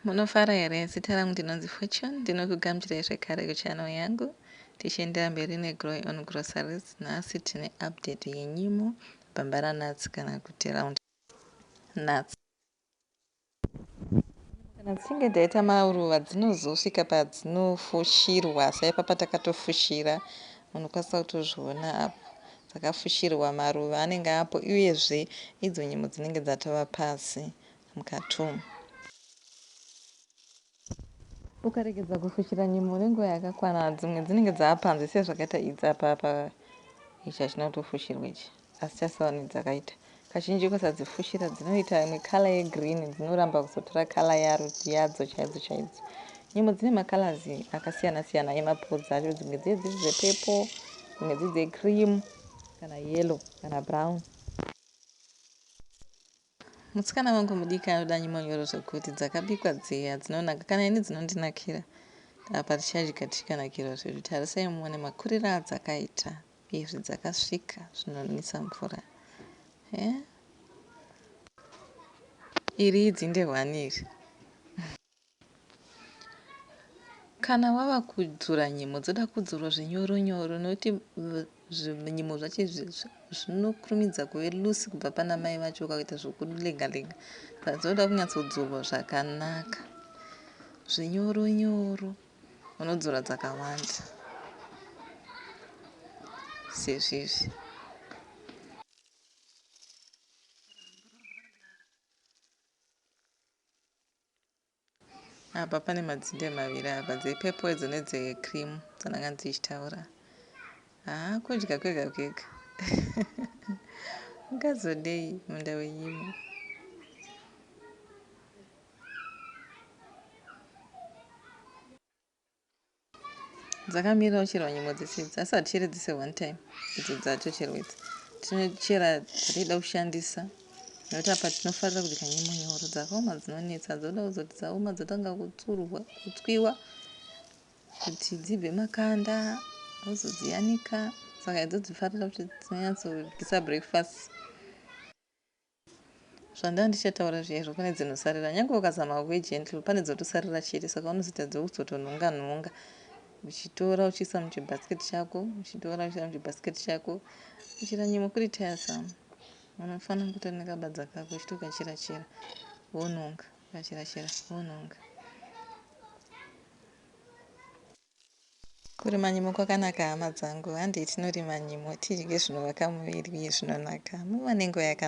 Munofara here? Zita rangu ndinonzi Fortune. Ndinokugamuchirai zvekare kuchannel yangu. Tichiendera mberi neGrow Your Own Groceries, nhasi tine update yenyimo, bambara nuts kana kuti round nuts. Kana dzichinge dzaita maruva dzinozosvika padzinofushirwa saipapa takatofushira munokwanisa kutozviona apo dzakafushirwa maruva anenge apo uyezve idzo nyimo dzinenge dzatova pasi mukati umu. Ukaregedza kufushira nyimo nenguva yakakwana dzimwe dzinenge dzava panze sezvakaita idzi apa apa ichi hachina kutofushirwa ichi asi chaseoni dzakaita kazhinji ukasadzifushira dzinoita imwe kala yegreen dzinoramba kuzotora kala yaro yadzo chaidzo chaidzo nyimo dzine makalazi akasiyana siyana emapodzi acho dzimwe dziye dziri dzepepo dzimwe dziri dzecream kana yellow kana brown Musikana wangu mudiki anoda nyimonyoro zvekuti dzakabikwa dziya dzinonaka kana ini dzinondinakira apa tichadya tichikanakirwa zvedu tarisai muone makurira adzakaita izvi dzakasvika zvinonwisa mvura eh? Iri idzinde hwani iri Kana wava kudzura nyimo dzoda kudzurwa zvinyoro nyoro nokuti zvinyimo zvacho izvi zvinokurumidza kuve loose kubva pana mai vacho ukaita zvokulenga lenga saka dzinoda kunyatsodzurwa zvakanaka zvinyoro nyoro unodzura dzakawanda sezvizvi Apa pane madzinde maviri apa dze purple idzo nedze cream dzandanga ndichitaura. Haa kudya kwega kwega. Ungazodei munda wenyimo. Dzakamira kucherwa nyimo dzese idzi asi haticheri dzese one time idzo dzatocherwa idzi. Tinochera dzatida kushandisa nekuti apa tinofarira kubika nyimo nyoro dzakaoma dzinonetsa dzoda kuzoti dzaoma dzotanga kutsurwa kutswiwa kuti dzibve makanda wozodziyanika saka idzo dzifarira kuti dzinonyatsodisa breakfast. Zvandanga ndichataura zviya izvo pane dzinosarira. Nyange ukazama uve gentle pane dzotosarira chete saka unozotadza kuzotonhonga nhonga uchitora uchiisa muchibasket chako uchitora uchiisa muchibasket chako kuchera nyimo kuri tiresome. Munhu anofanira kuita nekabadza kako uchitokachera chera wonhonga ukachera chera wonhonga. Kurima nyimo kwakanaka hama dzangu, handei tinorima nyimo tidye zvinovaka muviri uye zvinonaka. Muva nenguva yakanaka.